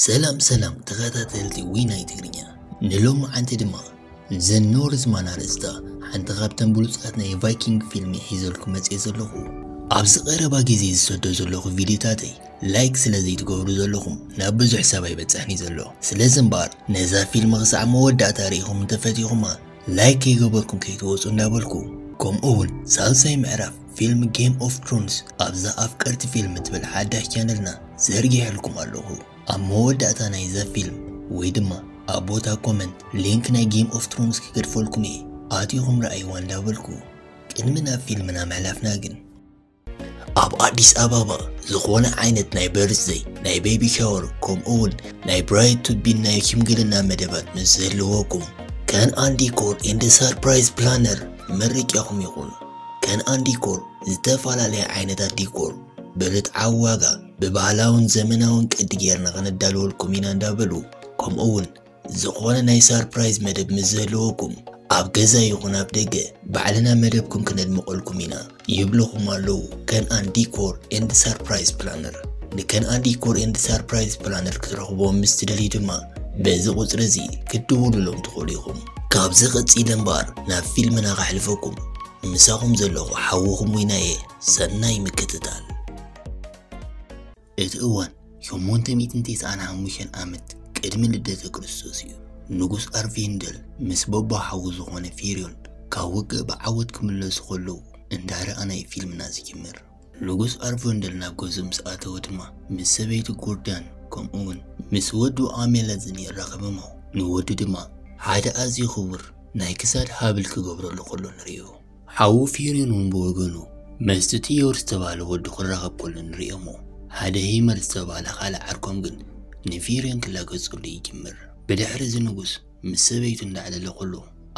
ሰላም ሰላም ተኸታተልቲ ዊናይ ትግርኛ ንሎማዓንቲ ድማ ዘ ኖርዝ ማን ኣርእስታ ሓንቲ ካብተን ብሉፃት ናይ ቫይኪንግ ፊልሚ ሒዘልኩ መፅየ ዘለኹ ኣብዚ ቀረባ ግዜ ዝሰዶ ዘለኹ ቪድዮታተይ ላይክ ስለ ዘይትገብሩ ዘለኹም ናብ ብዙሕ ሰብ ኣይበፅሕን እዩ ዘሎ ስለዚ እምበኣር ነዛ ፊልሚ ክሳዕ መወዳእታ ርኢኹም እንተፈቲኹማ ላይክ ከይገበርኩም ከይትወፁ እንዳበልኩ ከምኡ እውን ሳልሳይ ምዕራፍ ፊልም ጌም ኦፍ ትሮንስ ኣብዛ ኣፍቀርቲ ፊልም ትብል ሓዳሽ ቻነልና ዘርጊሐልኩም ኣለኹ። ኣብ መወዳእታ ናይዛ ፊልም ወይ ድማ ኣብ ቦታ ኮመንት ሊንክ ናይ ጌም ኦፍ ትሮንስ ክገድፈልኩም እየ፣ ኣቲኹም ረኣይዋ እንዳበልኩ ቅድሚ ናብ ፊልምና ምሕላፍና ግን ኣብ ኣዲስ ኣበባ ዝኾነ ዓይነት ናይ በርዝደይ ናይ ቤቢ ሻወር ከምኡውን ናይ ብራይድ ቱቢን ናይ ሽምግልና መደባት ምስ ዘለወኩም ከን ኣን ዲኮር ኤንድ ሰርፕራይዝ ፕላነር መርቂኹም ይኹን። ከነኣን ዲኮር ዝተፈላለየ ዓይነታት ዲኮር ብርትዓዊ ዋጋ ብባህላውን ዘመናውን ቅዲ ጌርና ከነዳልወልኩም ኢና እንዳበሉ ከምኡ እውን ዝኾነ ናይ ሳርፕራይዝ መደብ ምስ ዝህልወኩም ኣብ ገዛ ይኹን ኣብ ደገ ባዕልና መደብኩም ክነድምቐልኩም ኢና ይብልኹም ኣለዉ ከነኣን ዲኮር ኤንድ ሳርፕራይዝ ፕላነር ንከነኣን ዲኮር ኤንድ ሳርፕራይዝ ፕላነር ክትረኽቦም ምስ ትደልዩ ድማ በዚ ቁፅሪ እዚ ክትድውሉሎም ትኽእሉ ኢኹም። ካብዚ ቀጺለ እምበኣር ናብ ፊልምና ከሕልፈኩም። ምሳኹም ዘለኹ ሓውኹም ዊናየ ሰናይ ምክትታል። እቲ እዋን ሸሞንተ ሚእትን ቴስዓን ሓሙሽተን ዓመት ቅድሚ ልደተ ክርስቶስ እዩ። ንጉስ ኣርቪንደል ምስ በቦ ሓዉ ዝኾነ ፊርዮን ካብ ውግእ ብዓወት ክምለሱ ከለዉ እንዳ ረኣና እዩ ፊልምና ዝጅምር። ንጉስ ኣርቮንደል ናብ ገዝኡ ምስ ኣተወ ድማ ምስ ሰበይቱ ጎርዳን ከምኡውን ምስ ወዱ ኣሜለዝን የራኽብሞ። ንወዱ ድማ ሓደ ኣዝዩ ክቡር ናይ ክሳድ ሃብል ክገብረሉ ከሎ ንርእዮ። ሓዉ ፊሪን እውን ብወገኑ ምስቲ ቲዮር ዝተባህለ ወዱ ክራኸብ ከሎ ንርእዮሞ። ሓደ ሂመር ዝተባህለ ካልእ ዓርኮም ግን ንፊሪን ክላገጸሉ ይጅምር። ብድሕሪ እዚ ንጉስ ምስ ሰበይቱ እንዳዕለለኹሉ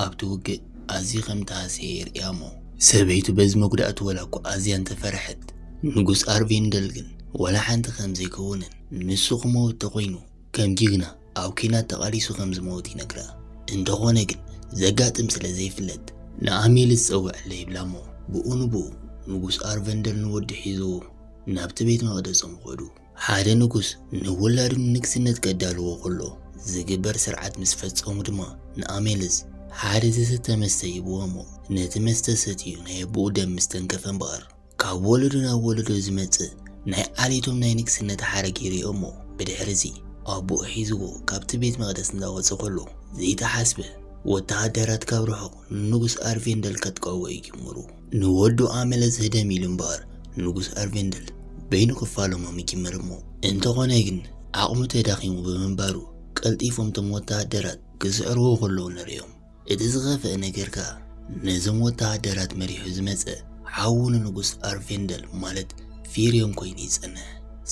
ኣብቲ ውግእ ኣዝዩ ከም ተሃስየ የርእያ'ሞ፣ ሰበይቱ በዚ መጉዳእቱ ወላ'ኳ ኣዝያ እንተፈረሐት፣ ንጉስ ኣርቬንደል ግን ወላ ሓንቲ ከም ዘይከውንን ንሱ ክመውት ተኾይኑ ከም ጅግና ኣብ ኲናት ተቓሊሱ ከም ዝመውት ይነግራ። እንተኾነ ግን ዘጋጥም ስለ ዘይፍለጥ ንኣሜልስ ጸውዕለይ ይብላ'ሞ፣ ብኡ ንብኡ ንጉስ ኣርቨንደል ንወዱ ሒዝዎ ናብቲ ቤት መቕደሶም ኸዱ። ሓደ ንጉስ ንውላዱ ንንግስነት ከዳልዎ ከሎ ዝግበር ስርዓት ምስ ፈጸሙ ድማ ንኣሜልዝ ሓደ ዝስተ መስተ ይህብዎ እሞ ነቲ መስተ ሰትዩ ናይ ኣቦኡ ደም ምስ ተንከፈ እምበኣር ካብ ወለዶ ናብ ወለዶ ዝመጽእ ናይ ዓሌቶም ናይ ንግስነት ሓረግ ይርእዮ እሞ ብድሕርዚ ኣቦኡ ሒዝዎ ካብቲ ቤት መቕደስ እንዳወጸ ከሎ ዘይተሓስበ ወተሃደራት ካብ ርሑቕ ንንጉስ ኣርቬንደል ከጥቀዕዎ ይጅምሩ። ንወዱ ኣመለ ዝህደም ኢሉ እምበኣር ንጉስ ኣርቬንደል በይኑ ክፋለሞም ይጅምር እሞ እንተኾነ ግን ዓቕሙ ተዳኺሙ ብምንባሩ ቀልጢፎም እቶም ወተሃደራት ክስዕርዎ ከለዉ ንርእዮም። እቲ ዝኸፍኣ ነገር ከኣ ነዞም ወተሃደራት መሪሑ ዝመጸ ሓዉ ንንጉስ ኣርቬንደል ማለት ፊርዮን ኮይኑ ይጸንሕ።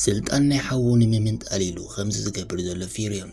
ስልጣን ናይ ሓዉ ንምምንጣል ኢሉ ከምዚ ዝገብር ዘሎ ፊርዮን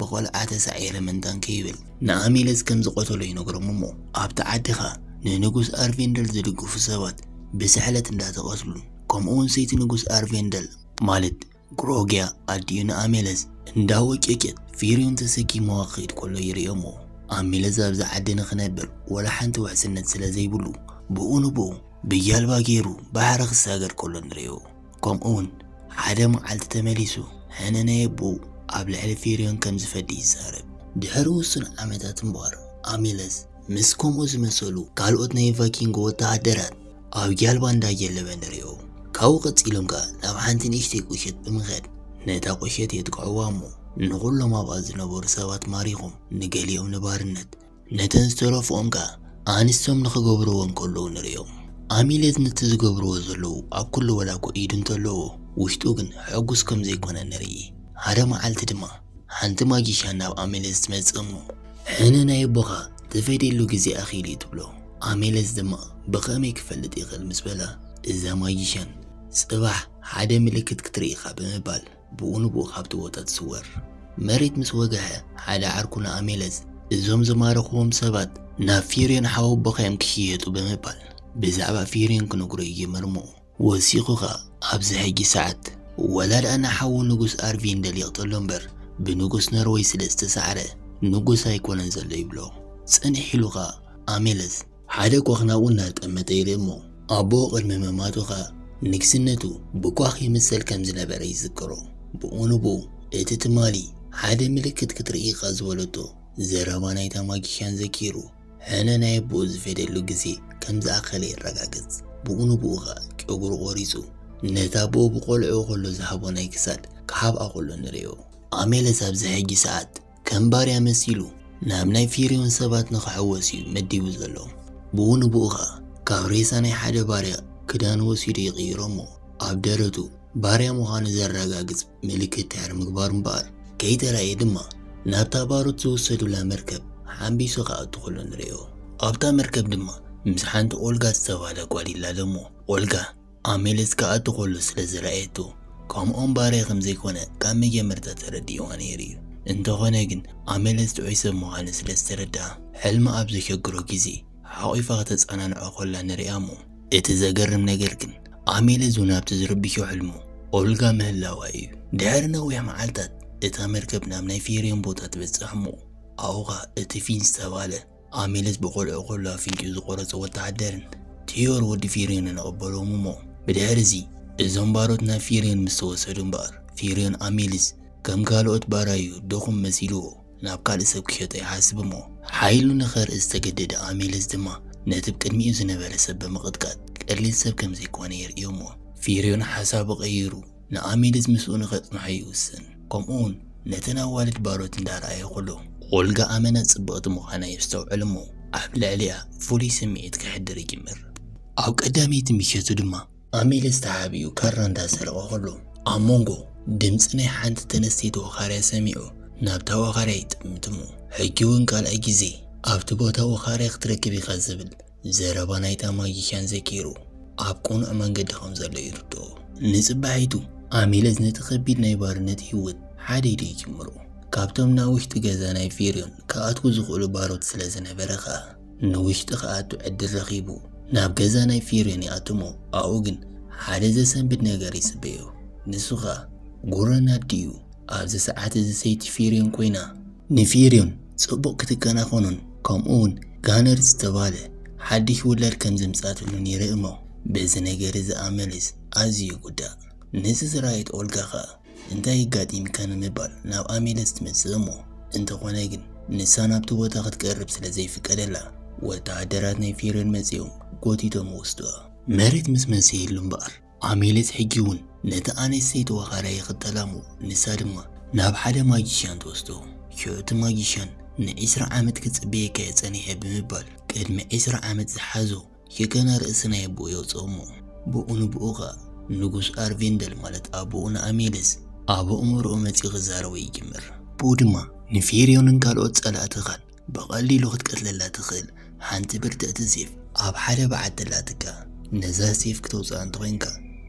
ብቆልዓ ተሳዒረ ምንታን ከይብል ንኣሚለዝ ከም ዝቐተሎ ይነግሮም እሞ ኣብቲ ዓዲ ከኣ ንንጉስ ኣርቬንደል ዝድግፉ ሰባት ብስሕለት እንዳተቐትሉን ከምኡ ውን ሰይቲ ንጉስ ኣርቬንደል ማለት ግሮግያ ኣዲኡ ንኣሜለዝ እንዳወጨጨት ፊርዩን ተሰኪምዋ ክኸይድ ከሎ ይርእዮ እሞ ኣሚለዝ ኣብዚ ዓዲ ንኽነብር ወላ ሓንቲ ውሕስነት ስለ ዘይብሉ ብኡ ንብኡ ብጃልባ ገይሩ ባሕሪ ክሳገር ከሎ ንርእዮ። ከምኡውን ሓደ መዓልቲ ተመሊሱ ሕነ ናይ ኣቦኡ ኣብ ልዕሊ ፊርዮን ከም ዝፈዲ ይዛረብ። ድሕሪ ውሱን ዓመታት እምበኣር፣ ኣሚለስ ምስ ከምኡ ዝመሰሉ ካልኦት ናይ ቫይኪንግ ወተሃደራት ኣብ ጃልባ እንዳጀለበ ንርእዮ። ካብኡ ቀጺሎም ከኣ ናብ ሓንቲ ንእሽተይ ቁሸት ብምኻድ ነታ ቁሸት የጥቅዑዋ እሞ ንኹሎም ኣብኣ ዝነበሩ ሰባት ማሪኾም ንገሊኦም ንባርነት፣ ነተን ዝተረፍኦም ከኣ ኣንስቶም ንኽገብርዎ እንከለዉ ንርእዮም። ኣሚሌት ነቲ ዝገብርዎ ዘለዉ ኣብ ኩሉ ወላኮ ኢዱ እንተለዎ ውሽጡ ግን ሕጉስ ከም ዘይኮነ ንርኢ። ሓደ መዓልቲ ድማ ሓንቲ ማጊሻን ናብ ኣሚሌት ትመጽእ እሞ ሕነ ናይ ኣቦኻ ትፈድየሉ ግዜ ኣኺሉ እዩ ትብሎ። ኣሚሌት ድማ ብኸመይ ክፈልጥ ይኽእል ምስ በላ እዛ ማጊሻን ጽባሕ ሓደ ምልክት ክትርኢ ኢኻ ብምባል ብኡ ንብኡ ካብቲ ቦታ ትስወር። መሬት ምስ ወግሐ ሓደ ዓርኩ ንኣሜለዝ እዞም ዝማረኽዎም ሰባት ናብ ፊርዮን ሓወቦኻ'ዮም ክሽየጡ ብምባል ብዛዕባ ፊርዮን ክነግሮ ይጅምር'ሞ ወሲኹ ከኣ ኣብዚ ሕጂ ሰዓት ወላ ደኣ ንሓዉ ንጉስ ኣርቪንደል ይቕተሎ እምበር ብንጉስ ኖርወይ ስለ ዝተሳዕረ ንጉስ ኣይኮነን ዘሎ ይብሎ። ጽንሕ ኢሉ ከኣ ኣሜለዝ። ሓደ ኳኽ ናብኡ እናጠመተ ኢለ እሞ ኣቦኡ ቅድሚ ምማቱ ኸኣ ንግስነቱ ብኳኽ ይምሰል ከም ዝነበረ ይዝክሮ። ብኡ ንብኡ እቲ ትማሊ ሓደ ምልክት ክትርኢ ኢኻ ዝበለቶ ዘረባ ናይታ ማጊሽያን ዘኪሩ ሕነ ናይ ኣቦኡ ዝፈድየሉ ግዜ ከም ዝኣኸለ የረጋግጽ። ብኡ ንብኡ ኸኣ ጨጉሩ ቆሪጹ ነቲ ኣቦኡ ብቆልዕኡ ከሎ ዝሃቦ ናይ ክሳድ ክሓብኣ ከሎ ንርእዮ። ኣሜለስ ኣብዚ ሕጂ ሰዓት ከም ባርያ መሲሉ ናብ ናይ ፊርዮን ሰባት ንክሕወስ እዩ መዲቡ ዘሎ ብኡ ንብኡ ከኣ ካብ ሬሳ ናይ ሓደ ባርያ ክዳኑ ወሲዱ ይቅይሮ እሞ ኣብ ደረቱ ባርያ ምዃኑ ዘረጋግጽ ምልክት ድሕሪ ምግባሩ እምበኣር ከይተራእየ ድማ ናብታ ባሮት ዝውሰዱላ መርከብ ሓንቢሱ ክኣቱ ከሎ ንርእዮ ኣብታ መርከብ ድማ ምስ ሓንቲ ኦልጋ ዝተባህለ ጓል ይላለ እሞ ኦልጋ ኣሜልስ ከኣ እቲ ኩሉ ስለ ዝረኣየቶ ከምኦም ባርያ ከም ዘይኮነ ካብ መጀመርታ ተረዲእዋ ነይሩ እዩ። እንተኾነ ግን ኣሜልስ ጥዑይ ሰብ ምዃኑ ስለ ዝተረድኣ ሕልሚ ኣብ ዘሸግሮ ግዜ ሓቝፋ ከተጸናንዖ ከላ ንርእያ እሞ፣ እቲ ዘገርም ነገር ግን ኣሜልስ እውን ኣብቲ ዝርብሾ ሕልሙ ኦልጋ ምህላዋ እዩ። ድሕሪ ነዊሕ መዓልታት እታ መርከብ ናብ ናይ ፊርዮን ቦታ ትበጽሕ እሞ ኣብኡ ከኣ እቲ ፊንስ ዝተባህለ ኣሚለስ ብቆልዑ ከሎ ኣፍንጭኡ ዝቖረጸ ወተሃደርን ቴዮር ወዲ ፊርዮንን ኣቐበሎዎም እሞ ብድሕርዚ እዞም ባሮት ናብ ፊርዮን ምስ ተወሰዱ እምበኣር ፊርዮን ኣሚልስ ከም ካልኦት ባራዩ ድኹም መሲልዎ ናብ ካልእ ሰብ ክሸጦ ይሓስብ እሞ ሓይሉ ንኸርኢ ዝተገደደ ኣሚለስ ድማ ነቲ ብ ቅድሚኡ ዝነበረ ሰብ ብምቕጥቃጥ ቀሊል ሰብ ከም ዘይኮነ የርእዮ እሞ ፊርዮን ሓሳቡ ቀይሩ ንኣሚድስ ምስኡ ንኸጽንሖ ይውስን፣ ከምኡውን ነተን ኣዋልድ ባሮት እንዳ ረኣየ ኹሉ። ኦልጋ ኣመና ጽብቕቲ ምዃና የስተውዕል እሞ ኣብ ልዕሊኣ ፍሉይ ስምዒት ከሕድር ይጅምር። ኣብ ቀዳመይቲ ምሸቱ ድማ። ኣሚድስ ተሓቢኡ ካራ እንዳ ሰረቐ ኹሉ፣ ኣብ መንጎ። ድምጺ ናይ ሓንቲ ተነስተይቲ ወኻርያ ሰሚዑ ናብታ ወኻርያ ይጥምት እሞ ሕጂውን ካልኣይ ግዜ። ኣብቲ ቦታ ወኻርያ ክትረክብ ኢኻ ዝብል። ዘረባ ናይታ ማጂሽያን ዘኪሩ ኣብ ቅኑዕ መንገዲ ከም ዘሎ ይርድኦ። ንጽባሒቱ ኣሚለዝ ነቲ ከቢድ ናይ ባርነት ህይወት ሓደ ኢሉ ይጅምሮ። ካብቶም ናብ ውሽጢ ገዛ ናይ ፌርዮን ክኣትዉ ዝኽእሉ ባሮት ስለ ዝነበረ ከኣ ንውሽጢ ክኣቱ ዕድል ረኺቡ ናብ ገዛ ናይ ፌርዮን ይኣቱ'ሞ ኣብኡ ግን ሓደ ዘሰንብድ ነገር ይጽበዮ። ንሱ ከኣ ጉረን ኣዲኡ። ኣብዚ ሰዓት እዚ ሰይቲ ፌርዮን ኮይና። ንፊርዩን ጽቡቕ ክትከናኸኖን ከምኡውን ጋነር ዝተባህለ ሓድሽ ውላድ ከም ዘምጽኣትሉን ይርኢ እሞ በዚ ነገር እዚ ኣመልስ ኣዝዩ ይጉዳእ። ነዚ ዝረኣየት ኦልጋ ኸኣ እንታይ የጋጢምካ ንምባል ናብ ኣሜለስ ትመጽእ እሞ እንተኾነ ግን ንሳ ናብቲ ቦታ ክትቀርብ ስለ ዘይፍቀደላ ወተሃደራት ናይ ፊርዩን መጺኦም ጎቲቶም ወስዱዋ። መሬት ምስ መሰየሉ እምበኣር ኣሜሌስ ሕጂ'ውን ነታ ኣንስተይቲ ወኻርያ ይኽተላ እሞ ንሳ ድማ ናብ ሓደ ማጂሽያን ትወስዶ። ሽዑ እቲ ማጂሽያን ንዒስራ ዓመት ክጽበየካ እየ ጸኒሐ ብምባል ቅድሚ ዒስራ ዓመት ዝሓዞ ሽጋና ርእሲ ናይ ኣቦኡ የውጽኦ እሞ ብኡ ንብኡ ከኣ ንጉስ ኣርቬንደል ማለት ኣቦኡ ንኣሜሌስ ኣብ ኣእምሮኡ መጺኡ ክዛረቦ ይጅምር። ብኡ ድማ ንፌርዮንን ካልኦት ጸላእትኻን ብቐሊሉ ክትቀትለላ ትኽእል ሓንቲ ብርትዕቲ ሴፍ ኣብ ሓደ በዓቲ ኣላትካ። ነዛ ሴፍ ክተውጽኣ እንተኾይንካ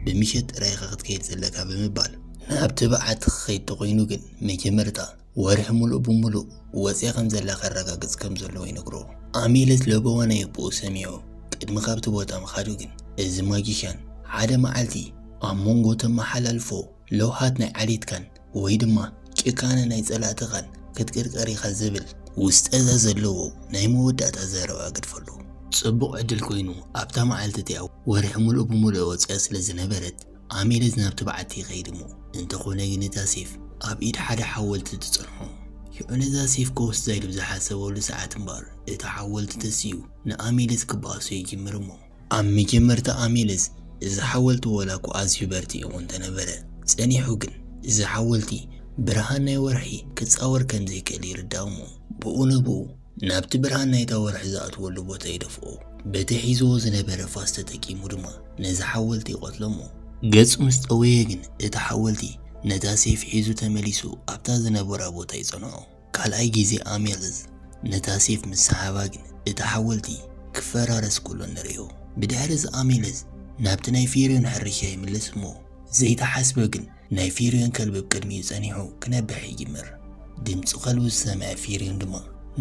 ብምሸት ጥራይ ኢኻ ክትከይድ ዘለካ ብምባል። ናብቲ በዓቲ ክኸይድ ተኾይኑ ግን መጀመርታ ወርሒ ምሉእ ብምሉእ ወጺኣ ከም ዘላ ከረጋግጽ ከም ዘለዎ ይነግሮ። ኣሚለት ለበዋ ናይ ኣቦኡ ሰሚዑ ቅድሚ ካብቲ ቦታ ምኻዱ ግን እዚ ማጂሻን ሓደ መዓልቲ ኣብ መንጎ እተመሓላልፎ ለውሃት ናይ ዓሌትካን ወይ ድማ ጭካነ ናይ ጸላእትኻን ክትቅርቀር ኢኻ ዝብል ውስጠዘ ዘለዎ ናይ መወዳእታ ዘረባ ግድፈሉ። ጽቡቕ ዕድል ኮይኑ ኣብታ መዓልቲ እቲኣ ወርሒ ምሉእ ብምሉእ ወጺኣ ስለ ዝነበረት ኣሚለዝ ናብቲ በዓቲ ይኸይድ እሞ እንተኾነ ግን እታ ሴፍ ኣብ ኢድ ሓደ ሓወልቲ ትጸንሖ። ሽዑ ነዛ ሴፍ ከወስዛ ኢሉ ብዝሓሰበሉ ሰዓት እምበኣር እቲ ሓወልቲ ተሲኡ ንኣሚለዝ ክበኣሶ ይጅምር እሞ፣ ኣብ መጀመርታ ኣሜለዝ እዚ ሓወልቲ ወላ'ኳ ኣዝዩ በርቲዑ እኳ እንተ ነበረ፣ ጸኒሑ ግን እዚ ሓወልቲ ብርሃን ናይ ወርሒ ክጻወር ከም ዘይክእል ይርዳእ እሞ፣ ብኡ ንብኡ ናብቲ ብርሃን ናይታ ወርሒ ዝኣትወሉ ቦታ ይደፍኦ። በቲ ሒዝዎ ዝነበረ ፋስ ተጠቂሙ ድማ ነዚ ሓወልቲ ይቐትሎ እሞ፣ ገጹ ምስ ጠወየ ግን እቲ ሓወልቲ ነታ ሰይፊ ሒዙ ተመሊሱ ኣብታ ዝነበራ ቦታ ይጸንዖ። ካልኣይ ግዜ ኣሜልዝ ነታ ሴፍ ምስ ሰሓባ ግን እቲ ሓወልቲ ክፈራረስ ከሎ ንርእዮ። ብድሕርዚ ኣሜልዝ ናብቲ ናይ ፊርዮን ሕርሻ ይምለስ እሞ ዘይተሓስበ ግን ናይ ፊርዮን ከልቢ ብ ቅድሚኡ ጸኒሑ ክነብሕ ይጅምር። ድምጺ ከልቡ ዝሰምዐ ፊርዮን ድማ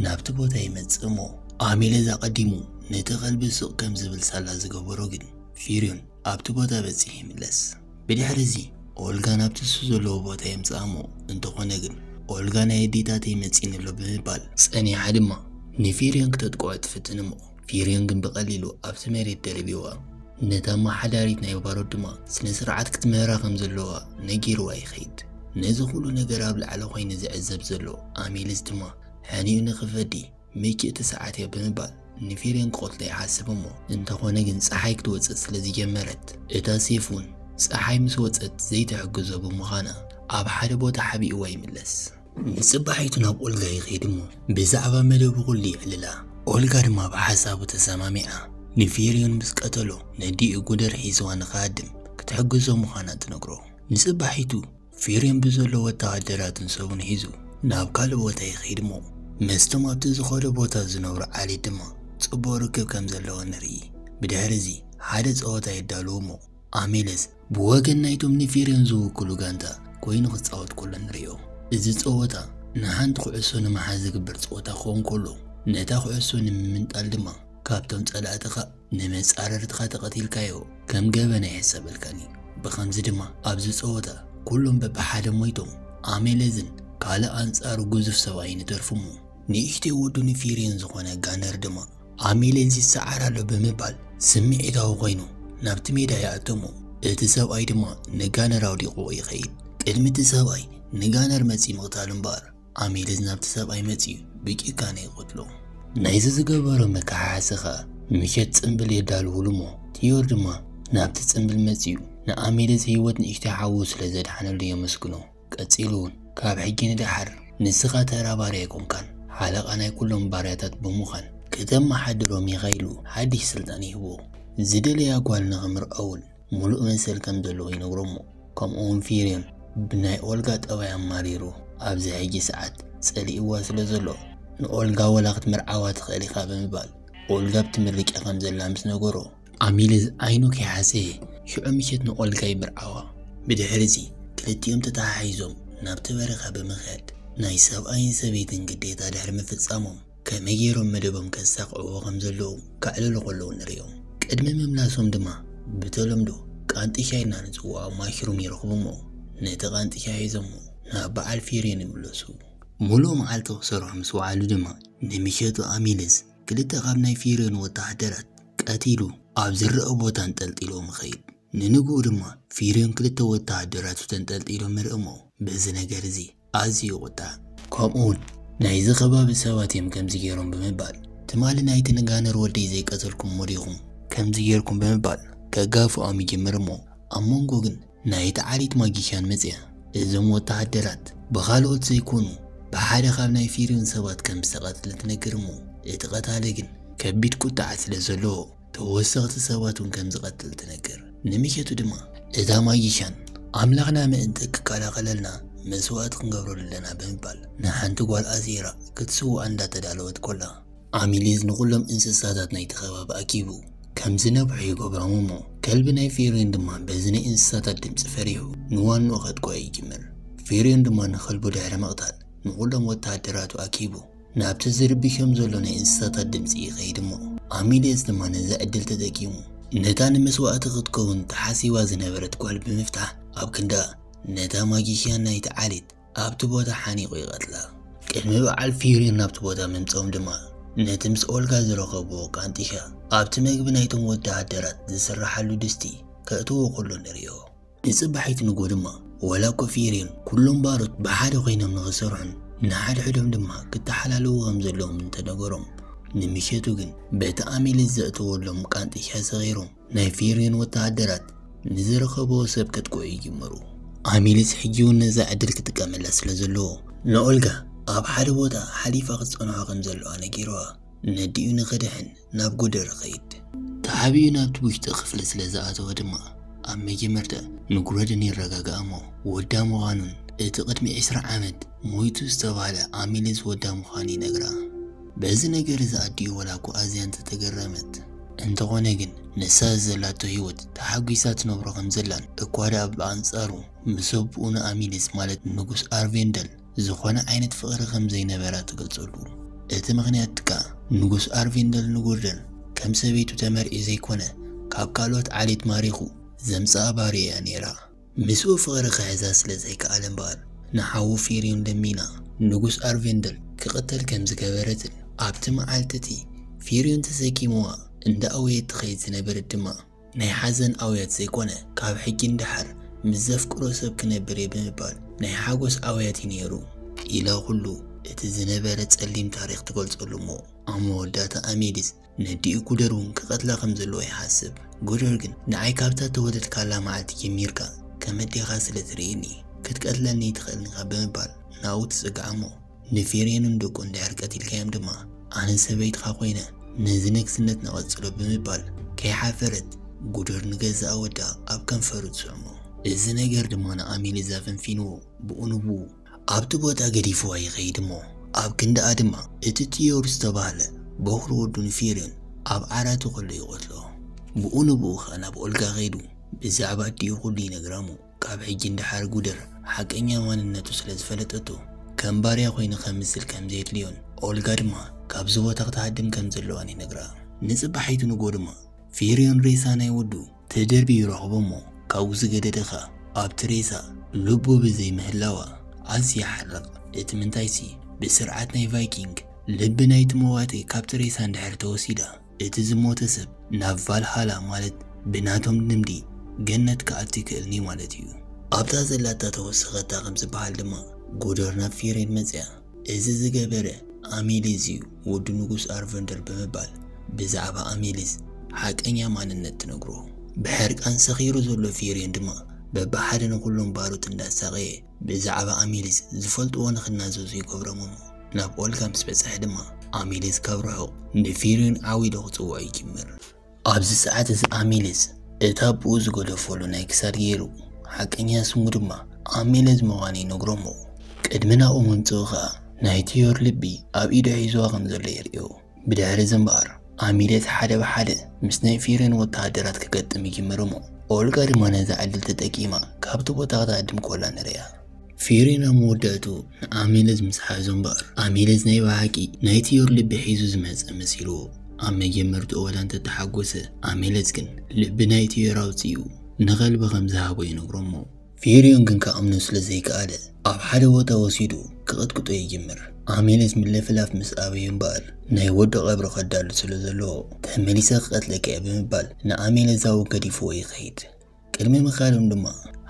ናብቲ ቦታ ይመጽእ እሞ ኣሜልዝ ኣቐዲሙ ነቲ ከልቢ ስቕ ከም ዝብል ሳላ ዝገበሮ ግን ፊርዮን ኣብቲ ቦታ በጺሑ ይምለስ። ብድሕሪ እዚ ኦልጋ ናብ ትሱ ዘለዎ ቦታ የምጽኣ እሞ እንተኾነ ግን ኦልጋ ናይ ኣዴታተይ መጺኒ ኣሎ ብምባል ጸኒሓ ድማ ንፊርዮን ክተጥቅዖ ትፍትን እሞ ፊርዮን ግን ብቐሊሉ ኣብቲ መሬት ደርቢዋ ነታ ኣማሓዳሪት ናይ ባሮት ድማ ስነ ስርዓት ክትምህራ ከም ዘለዋ ነጊርዋ ይኸይድ። ነዚ ኩሉ ነገር ኣብ ላዕሊ ኮይኑ ዝዕዘብ ዘሎ ኣሚልስ ድማ ሕኒኡ ንኽፈዲ ሚኪ እቲ ሰዓት እዮ ብምባል ንፊሬን ክቐትሎ ይሓስብ እሞ እንተኾነ ግን ፀሓይ ክትወፅእ ስለ ዝጀመረት እታ ሴፍ እውን ፀሓይ ምስ ወፀት ዘይትሕግዞ ብምዃና ኣብ ሓደ ቦታ ሓቢእዋ ይምለስ። ንፅባሒቱ ናብ ኦልጋ ይኸይድ እሞ ብዛዕባ መደቡ ኩሉ የዕልላ። ኦልጋ ድማ ብሓሳቡ ተሰማሚዓ ንፊሬን ምስ ቀተሎ ነዲኡ ጉደር ሒዝዋ ንክሃድም ክትሕግዞ ምዃና ትነግሮ። ንፅባሒቱ ፊሬም ብዘሎ ወተሃደራትን ሰቡን ሒዙ ናብ ካልእ ቦታ ይኸይድ'ሞ ምስቶም ኣብቲ ዝኸዶ ቦታ ዝነብሩ ዓሌት ድማ ጽቡቕ ርክብ ከም ዘለዎ ንርኢ። ብድሕሪ'ዚ ሓደ ጸወታ የዳልዉ'ሞ ኣሜለስ ብወገን ናይቶም ንፊሬም ዝውክሉ ጋንታ ኮይኑ ክጻወት ከሎ ንርእዮ። እዚ ጸወታ ንሓንቲ ኩዕሶ ንምሓዝ ዝግበር ጸወታ ክኸውን ከሎ ነታ ኩዕሶ ንምምንጣል ድማ ካብቶም ጸላእትኻ ንመጻርርትኻ ተቐቲልካዮ ከም ገበን ኣይሕሰበልካን እዩ። ብኸምዚ ድማ ኣብዚ ጸወታ ኩሎም በብሓደ ሞይቶም ኣሜለዝን ካልእ ኣንጻሩ ግዙፍ ሰብኣይን ይተርፉ እሞ ንእሽተይ ወዱ ንፊሪን ዝኾነ ጋነር ድማ ኣሜለዝ ይሰዓር ኣሎ ብምባል ስምዒታዊ ኮይኑ ናብቲ ሜዳ ይኣቱ እሞ እቲ ሰብኣይ ድማ ንጋነር ኣውዲቑዎ ይኸይድ። ቅድሚ እቲ ሰብኣይ ንጋነር መጺኡ ምቕታሉ እምበኣር ኣሜልዝ ናብቲ ሰብኣይ መጺኡ ብጭካነ ይቐትሎ። ናይዚ ዝገበሮ መከሓሓሲ ከኣ ምሸት ጽምብል የዳልዉሉ እሞ ትዮር ድማ ናብቲ ጽምብል መጺኡ ንኣሜልዝ ህይወት ንእሽተይ ሓዉ ስለ ዘድሓነሉ የመስግኖ። ቀጺሉ እውን ካብ ሕጂ ንደሓር ንስኻ ተራ ባርያ ኣይኮንካን ሓለቓ ናይ ኩሎም ባርያታት ብምዃን ከተመሓድሮም ኢኻ ኢሉ ሓድሽ ስልጣን ይህቦ። ዝደለያ ጓል ንኽምርዖ እውን ምሉእ መሰል ከም ዘለዎ ይነግሮ'ሞ ከምኡ'ውን ፊርዮን ብናይ ኦልጋ ጠባይ ኣማሪሩ ኣብዚ ሕጂ ሰዓት ጸሊእዋ ስለ ዘሎ ንኦልጋ ወላ ክትምርዓዋ ትኽእል ኢኻ ብምባል ኦልጋ ብትምርቂ ከም ዘላ ምስ ነገሮ ኣሚልዝ ዓይኑ ከይሓጸየ ሽዑ ምሸት ንኦልጋ ይምርዓዋ። ብድሕሪ'ዚ ክልቲኦም ተተሓሒዞም ናብቲ በረኻ ብምኽያድ ናይ ሰብኣይን ሰበይትን ግዴታ ድሕሪ ምፍጻሞም፣ ከመይ ገይሮም መደቦም ከሳቕዕዎ ከም ዘለዉ ከዕልሉ ከለዉ ንርእዮም። ቅድሚ ምምላሶም ድማ ብተለምዶ ቃንጢ ሻሂ ኢልና ንጽውዖ ማሽሩም ይረኽቡ'ሞ ነቲ ቃንጢ ሻሂ ሒዞሞ ናብ በዓል ፊርዮን ይምለሱ። ምሉእ መዓልቲ ክሰርሑ ምስ ወዓሉ ድማ ንምሸቱ ኣሚልስ ክልተ ካብ ናይ ፊርዮን ወተሃደራት ቀቲሉ ኣብ ዝርኣ ቦታ ኣንጠልጢልዎም ይኸይድ። ንንግኡ ድማ ፊርዮን ክልተ ወተሃደራቱ ተንጠልጢሎም ምርእሞ በዚ ነገር እዚ ኣዝዩ ይቑጣዕ። ከምኡውን ናይዚ ከባቢ ሰባት እዮም ከምዚ ገይሮም ብምባል ትማሊ ናይቲ ንጋነር ወደይ ዘይቀተልኩምዎ ዲኹም ከምዚ ገይርኩም ብምባል ከጋፍዖም ይጅምር እሞ ኣብ መንጎ ግን ናይቲ ዓሌት ማጊክያን መጽያ እዞም ወተሃደራት ብኻልኦት ዘይኮኑ ብሓደ ካብ ናይ ፊርዮን ሰባት ከም ዝተቐትለ ትነግር እሞ እቲ ቀታሊ ግን ከቢድ ቁጥዐ ስለ ዘለዎ ተወሰኽቲ ሰባት እውን ከም ዝቐትል ትነግር። ንሚኬቱ ድማ፣ እታ ማጂሻን፣ ኣምላኽና ምእንቲ ክከላኸለልና መስዋእቲ ክንገብረሉ ኣለና ብምባል ንሓንቲ ጓል ኣሲራ ክትስውኣ እንዳተዳለወት ኮላ፣ ኣሚሊዝ ንኹሎም እንስሳታት ናይቲ ከባቢ ኣኪቡ ከም ዝነብሑ ይገብሮም እሞ፣ ከልቢ ናይ ፊርዮን ድማ በዚ ናይ እንስሳታት ድምጺ ፈሪሑ ንዋንኡ ከጥቅዖ ይጅምር። ፊርዮን ድማ ንኸልቡ ድሕሪ ምቕታል ንኹሎም ወተሃደራቱ ኣኪቡ፣ ናብቲ ዝርብሾም ዘሎ ናይ እንስሳታት ድምፂ ይኸይድ እሞ ኣሚልየስ ድማ ነዚ ዕድል ተጠቂሙ ነታ ንመስዋእቲ ክትከውን ተሓሲባ ዝነበረት ጓል ብምፍታሕ ኣብ ክንዳ ነታ ማጂሽያን ናይቲ ዓሌት ኣብቲ ቦታ ሓኒቑ ይቐትላ። ቅድሚ በዓል ፊሪር ናብቲ ቦታ ምምፅኦም ድማ ነቲ ምስ ኦልጋ ዝረኸብዎ ቃንጢሻ ኣብቲ መግቢ ናይቶም ወደሃደራት ዝስረሓሉ ድስቲ ከእትዎ ከሎ ንሪኦ። ንጽባሒት ንግሆ ድማ ዋላ እኳ ፊርየን ኩሎም ባሮት ብሓደ ኮይኖም ንኽሰርሑን ንሓድሕዶም ድማ ክተሓላለዉ ከም ዘለዎም እንተ ነገሮም፣ ንምሸቱ ግን በቲ ኣሚሌስ ዘእተወሎም ቃንጥሻ ሰኺሮም ናይ ፊርየን ወተሃደራት ንዝረኸብዎ ሰብ ከጥቅዑ ይጅምሩ። ኣሚሌስ ሕጂ እውን ነዛ ዕድል ክጥቀመላ ስለ ዘለዎ ንኦልጋ ኣብ ሓደ ቦታ ሓሊፋ ክትጸንሖ ከም ዘለዋ ነጊርዋ ነዲኡ ንኽድሕን ናብ ጉደር ኸይድ። ተዓብዩ ናብቲ ውሽጢ ክፍሊ ስለ ዝኣተወ ድማ፣ ኣብ መጀመርታ ንጉረደን የረጋግኣ እሞ፣ ወዳ ምዃኑን እቲ ቅድሚ ዕስራ ዓመት ሞይቱ ዝተባህለ ኣሚልስ ወዳ ምዃኑ ይነግራ። በዚ ነገር እዚ ኣዲኡ ዋላኳ ኣዝያ እንተ ተገረመት፣ እንተኾነ ግን ንሳ እዚ ዘላቶ ህይወት ተሓጒሳ ትነብሮ ከም ዘላን እኳ ደኣ ብኣንጻሩ ምስ ኣቡኡ ንኣሚልስ ማለት ንጉስ ኣርቬንደል ዝኾነ ዓይነት ፍቕሪ ከም ዘይነበራ ትገልጸሉ። እቲ ምኽንያት ከኣ ንጉስ ኣርቪንደል ንጎርደን ከም ሰበይቱ ተመርዒ ዘይኮነ ካብ ካልኦት ዓሌት ማሪኹ ዘምጽኣ ባርያ'ያ ነይራ። ምስኡ ፍቕሪ ክሕዛ ስለ ዘይከኣለ እምበኣር ንሓዉ ፊርዮን ለሚና ንጉስ ኣርቪንደል ክቕተል ከም ዝገበረትን ኣብቲ መዓልቲ'ቲ ፊርዮን ተሰኪምዋ እንዳኣወየት ትኸይድ ዝነበረት ድማ ናይ ሓዘን ኣውያት ዘይኮነ ካብ ሕጂ ንደሓር ምስ ዘፍቅሮ ሰብ ክነብር እየ ብምባል ናይ ሓጎስ ኣውያት እዩ ነይሩ። ኢላ ኩሉ እቲ ዝነበረ ጸሊም ታሪኽ ትገልጸሉ እሞ ኣብ መወዳእታ ኣሜሊስ ነዲኡ ጉደር እውን ክቐትላ ከም ዘለዎ ይሓስብ። ጉደር ግን ንዓይ ካብታ እተወለድካላ መዓልቲ ጀሚርካ ከም ኣዴኻ ስለ ትርእየኒ ክትቀትለኒ ኣይትኽእልን ኢኻ ብምባል ናብኡ ትጽጋዕ እሞ ንፊሬንን ደቁን እንድሕር ቀቲልካዮም ድማ ኣነ ሰበይትኻ ኮይነ ነዚ ነግስነት ነቐጽሎ ብምባል ከይሓፈረት ጉደር ንገዛእ ወዳ ኣብ ከንፈሩ ትስዕሞ። እዚ ነገር ድማ ንኣሜኔዝ ኣፈንፊንዎ ብኡ ንብኡ ኣብቲ ቦታ ገዲፍዋ ይኸይድ እሞ ኣብ ክንድኣ ድማ እቲ ጥዮር ዝተባህለ ቦኽሪ ወዱ ንፊሬን ኣብ ዓራቱ ከሎ ይቐትሎ። ብኡ ንብኡ ከኣ ናብ ኦልጋ ከይዱ ብዛዕባ ኣዲኡ ኩሉ ይነግራ እሞ ካብ ሕጂ ንደሓር ጉደር ሓቀኛ ማንነቱ ስለ ዝፈለጠቶ ከም ባርያ ኮይኑ ከምስል ከም ዘየድልዮን ኦልጋ ድማ ካብዚ ቦታ ክትሃድም ከም ዘለዋን ይነግራ። ንጽባሒቱ ንግሆ ድማ ፊርዮን ሬሳ ናይ ወዱ ተደርብዩ ይረኽቦ እሞ ካብኡ ዝገደደ ከኣ ኣብቲ ሬሳ ልቡ ብዘይ ምህላዋ ኣዝዩ ይሓርቕ። እቲ ምንታይሲ ብስርዓት ናይ ቫይኪንግ ልቢ ናይቲ መዋቲ ካብቲ ሬሳ እንድሕር ተወሲዳ እቲ ዝሞተ ሰብ ናብ ቫልሃላ ማለት ብናቶም ልምዲ ገነት ክኣቱ ይክእልኒ ማለት እዩ። ኣብታ ዘላታ ተወሰኸታ ከም ዝበሃል ድማ ጉደር ናብ ፊሬን መጽኣ። እዚ ዝገበረ ኣሜሊዝ እዩ ወዲ ንጉስ ኣርቨንደር ብምባል ብዛዕባ ኣሜሊዝ ሓቀኛ ማንነት ትነግሮ። ብሕርቃን ሰኺሩ ዘሎ ፊሬን ድማ በብሓደ ንኹሎም ባሮት እንዳሳቐየ ብዛዕባ ኣሚሊስ ዝፈልጥዎ ንኽናዘዙ ይገብሮም እሞ ናብ ኦልጋ ምስ በጽሐ ድማ ኣሚሊስ ካብ ርሑቕ ንፊሪን ዓው ኢሉ ክጽውዖ ይጅምር። ኣብዚ ሰዓት እዚ ኣሚሊስ እቲ ኣቦኡ ዝገደፈሉ ናይ ክሳድ ገይሩ ሓቀኛ ስሙ ድማ ኣሚሊስ ምዃኑ ይነግሮ'ሞ ቅድሚ ናብኡ ምምጽኡ ከኣ ናይ ቲዮር ልቢ ኣብ ኢዱ ሒዝዋ ከም ዘሎ የርእዮ። ብድሕርዚ እምበኣር፣ ኣሚሌት ሓደ ብሓደ ምስ ናይ ፊሬን ወተሃደራት ክገጥም ይጅምር'ሞ፣ ኦልጋ ድማ ነዚ ዕድል ተጠቂማ ካብቲ ቦታ ክትሃድም ኮላ ንርእያ። ፊሬን ኣብ መወዳእትኡ ንኣሚሌዝ ምስ ሓዞ እምበኣር፣ ኣሚሌዝ ናይ ብሓቂ ናይ ቲዮር ልቢ ሒዙ ዝመጸ መሲልዎ ኣብ መጀመርትኡ ወላ እንተተሓጎሰ፣ ኣሚሌዝ ግን ልቢ ናይ ቲዮር ኣውጺኡ ንኸልቢ ከም ዝሃቦ ይነግሮ'ሞ፣ ፊርዮን ግን ክኣምኖ ስለ ዘይከኣለ ኣብ ሓደ ቦታ ወሲዱ ክቕጥቅጦ ይጅምር። ኣሜኔት ምልፍላፍ ምስ ኣበዩ እምበኣር ናይ ወዱ ቐብሪ ከዳሉ ስለ ዘለዎ ተመሊሰ ክቐትለካ እየ ብምባል ንኣሜኔዛዊ ገዲፍዎ ይኸይድ። ቅድሚ ምኻዶም ድማ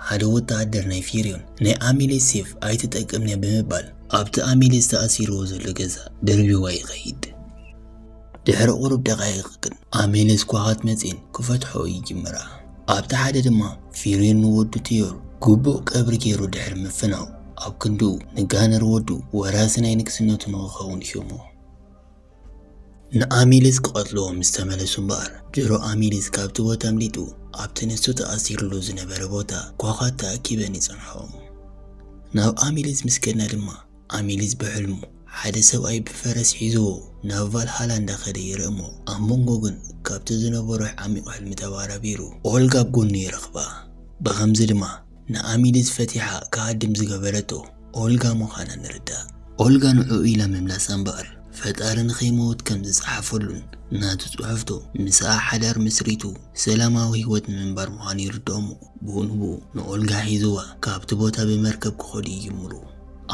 ሓደ ወተሃደር ናይ ፊርዮን ናይ ኣሜኔት ሴፍ ኣይትጠቅምነ ብምባል ኣብቲ ኣሜኔት ተኣሲርዎ ዘሎ ገዛ ደርቢዋ ይኸይድ። ድሕሪ ቁሩብ ደቓይቕ ግን ኣሜሌ ስኳኻት መጺኤን ክፈትሕኦ ይጅምራ። ኣብቲ ሓደ ድማ ፊሬን ንወዱ ቴዮር ግቡእ ቀብሪ ጌሩ ድሕሪ ምፍናው ኣብ ክንድኡ ንጋነር ወዱ ወራሲ ናይ ንግስነቱ ንኽኸውን ሾሞ። ንኣሜሌስ ክቐትልዎ ምስ ተመለሱ እምበኣር ድሮ ኣሜሌስ ካብቲ ቦታ ኣምሊጡ ኣብቲ ንሱ ተኣሲርሉ ዝነበረ ቦታ ኳኻት ተኣኪበን ይጸንሖም። ናብ ኣሜሌስ ምስ ከድና ድማ ኣሚሊዝ ብሕልሙ ሓደ ሰብኣይ ብፈረስ ሒዝዎ ናብ ቫልሃላ እንዳኸደ ይርኢ እሞ ኣብ መንጎ ግን ካብቲ ዝነበሮ ዓሚቕ ሕልሚ ተባራቢሩ ኦልጋ ኣብ ጎኑ ይረኽባ። ብኸምዚ ድማ ንኣሚሊዝ ፈቲሓ ክሃድም ዝገበረቶ ኦልጋ ምዃና ንርዳእ። ኦልጋ ንዕኡ ኢላ ምምላሳ እምበኣር ፈጣሪ ንኸይመውት ከም ዝጸሓፈሉን ናቱ ጽሑፍቶ ምስኣ ሓዳር መስሪቱ ሰላማዊ ህይወት ንምንባር ምዃኑ ይርድኦ እሞ ብኡ ንብኡ ንኦልጋ ሒዝዋ ካብቲ ቦታ ብመርከብ ክኸዱ ይጅምሩ።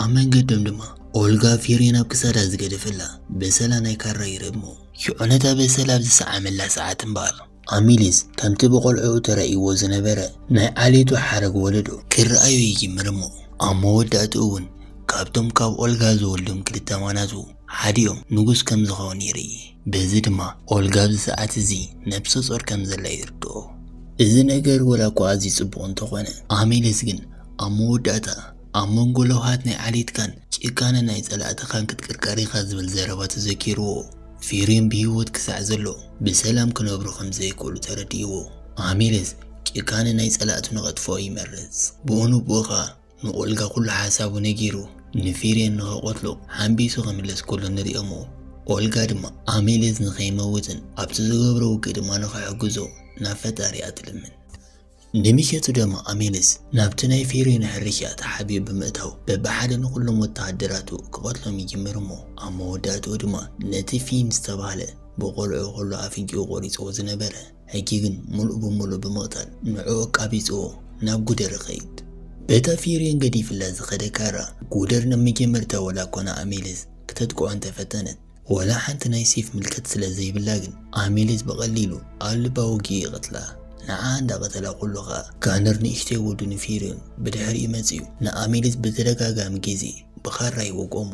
ኣብ መንገዶም ድማ ኦልጋ ፊሬን ኣብ ክሳዳ ዝገደፈላ በሰላ ናይ ካራ ይረግሞ። ዮነታ በሰላ ኣብ ዝሰዓመላ ሰዓት እምበኣር፣ ኣሚሊስ ከምቲ ብቖልዕኡ ተራእይዎ ዝነበረ ናይ ዓሌቱ ሓረግ ወለዶ ክርኣዮ ይጅምር እሞ፣ ኣብ መወዳእትኡ እውን ካብቶም ካብ ኦልጋ ዝወልዶም ክልተ ማናቱ ሓዲኦም ንጉስ ከም ዝኸውን ይርኢ። በዚ ድማ ኦልጋ ኣብዚ ሰዓት እዚ ነብሰ ጾር ከም ዘላ ይርድኦ። እዚ ነገር ወላ እኳ ኣዝዩ ጽቡቕ እንተኾነ፣ ኣሚሊስ ግን ኣብ መወዳእታ ኣብ መንጎ ለውሃት ናይ ዓሌትካን ጭካነ ናይ ጸላእትኻን ክትቅርቀር ኢኻ ዝብል ዘረባ ተዘኪርዎ፣ ፊሬም ብህይወት ክሳዕ ዘሎ ብሰላም ክነብሩ ከም ዘይክእሉ ተረዲእዎ። ኣሚለስ ጭካነ ናይ ጸላእቱ ንኸጥፍኦ ይመርጽ። ብኡ ንብኡ ኸኣ ንኦልጋ ኵሉ ሓሳቡ ነጊሩ ንፊሬም ንኸቐትሎ ሓንቢሱ ክምለስ ከሎ ንርእዮ'ሞ፣ ኦልጋ ድማ ኣሚለስ ንኸይመውትን ኣብቲ ዝገብሮ ውግእ ድማ ንኽሕግዞ ናብ ፈጣሪኣ ትልምን። ንሚኬቱ ደማ ኣሜንስ ናብቲ ናይ ፊሪኖ ሕርሻ ተሓቢኡ ብምእታው በብሓደ ንኹሎም ወተሃደራቱ ክቐትሎም ይጅምር እሞ ኣብ መወዳእትኡ ድማ ነቲ ፊን ዝተባህለ ብቖልዕኡ ከሎ ኣፍንጭኡ ቆሪጽዎ ዝነበረ ሕጂ ግን ምሉእ ብምሉእ ብምቕታል ንዕኡ ኣቃቢጽዎ ናብ ጉደር ይኸይድ። በታ ፊሪን ገዲፍላ ዝኸደ ካራ ጉደር ንመጀመርታ ዋላ'ኳ ንኣሜንስ ክተጥቅዖ እንተፈተነት ወላ ሓንቲ ናይ ሴፍ ምልከት ስለ ዘይብላ ግን ኣሜሊዝ ብቐሊሉ ኣብ ልባ ወጊኡ ይቐትላ። ንዓ እንዳ ቀተላ ኩሉ ከኣ ጋነር ንእሽተይ ወዱ ንፊርዮን ብድሕሪኡ መጺኡ ንኣሜሊዝ ብተደጋጋሚ ግዜ ብኻራ ይወጎሙ።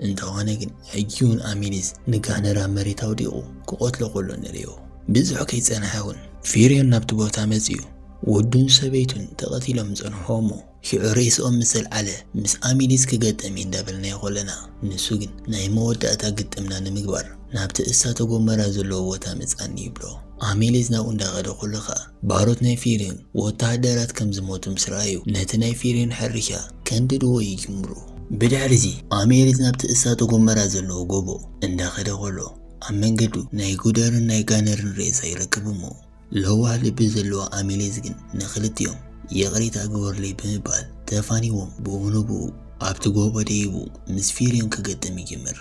እንተኾነ ግን ሕጂውን ኣሜሊዝ ንጋነር ኣብ መሬት ኣውዲቑ ክቐትሎ ከሎ ንርእዮ። ብዙሕ ከይጸንሐ ውን ፊርዮን ናብቲ ቦታ መጺኡ ወዱን ሰበይቱን ተቐቲሎም ጸንሖ እሞ ሽዑ ሬስኦም ምስ ኣልዓለ ምስ ኣሚዲስ ክገጠም እዩ እንዳበልናዮ ከሎና ንሱ ግን ናይ መወዳእታ ግጥምና ንምግባር ናብቲ እሳተ ጎመራ ዘለዎ ቦታ ምጻኒ ይብሎ። ኣሚሊዝ ናብኡ እንዳኸደ ከሎ ከኣ ባሮት ናይ ፊርዮን ወተሃደራት ከም ዝሞቱ ምስ ረኣዩ ነቲ ናይ ፊርዮን ሕርሻ ከንድድዎ ይጅምሩ። ብድሕሪዚ ኣሚሊዝ ናብቲ እሳተ ጎመራ ዘለዎ ጎቦ እንዳኸደ ከሎ ኣብ መንገዱ ናይ ጉደርን ናይ ጋነርን ሬሳ ይረክብ እሞ ለዋህ ልቢ ዘለዋ ኣሜሌዝ ግን ንኽልቲኦም ይቕሬታ ግበሩለይ ብምባል ተፋኒዎም ብኡንብኡ ኣብቲ ጎቦ ደይቡ ምስ ፊርዮን ክገጥም ይጅምር።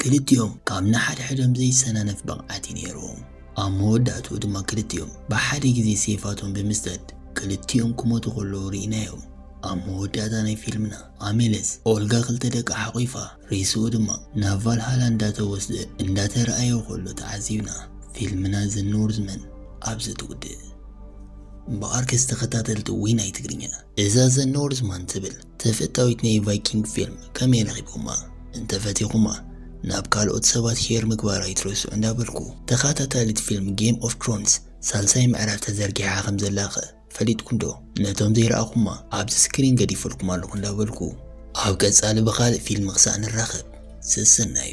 ክልቲኦም ካብ ንሓድሕዶም ዘይሰናነፍ ብቕዓት እዩ ነይርዎም። ኣብ መወዳእትኡ ድማ ክልቲኦም ብሓደ ግዜ ሴፋቶም ብምስዳድ ክልቲኦም ክሞቱ ከለዉ ርኢናዮም። ኣብ መወዳእታ ናይ ፊልምና ኣሜሌዝ ኦልጋ ክልተ ደቃ ሓቝፋ ሬስኡ ድማ ናብ ቫልሃላ እንዳተወስደ እንዳተራእየ ከሎ ተዓዚብና ፊልምና ዘኖርዝመን ኣብዚ ትውድእ። ብኣርከስ ተኸታተልቲ ወይ ናይ ትግርኛ እዛ ዘኖርዝማን ትብል ተፈታዊት ናይ ቫይኪንግ ፊልም ከመይ ረኺብኩማ? እንተፈቲኹማ ናብ ካልኦት ሰባት ሼር ምግባር ኣይትረስዑ እንዳበልኩ ተኻታታሊት ፊልም ጌም ኦፍ ትሮንስ ሳልሳይ ምዕራፍ ተዘርጊሓ ከምዘላ ከ ፈሊጥኩም ዶ ነቶም ዘይረኣኹማ ኣብዚ ስክሪን ገዲፈልኩም ኣለኹ እንዳበልኩ። ኣብ ቀጻሊ ብኻልእ ፊልም ክሳዕ ንራኸብ ሰሰናዩ።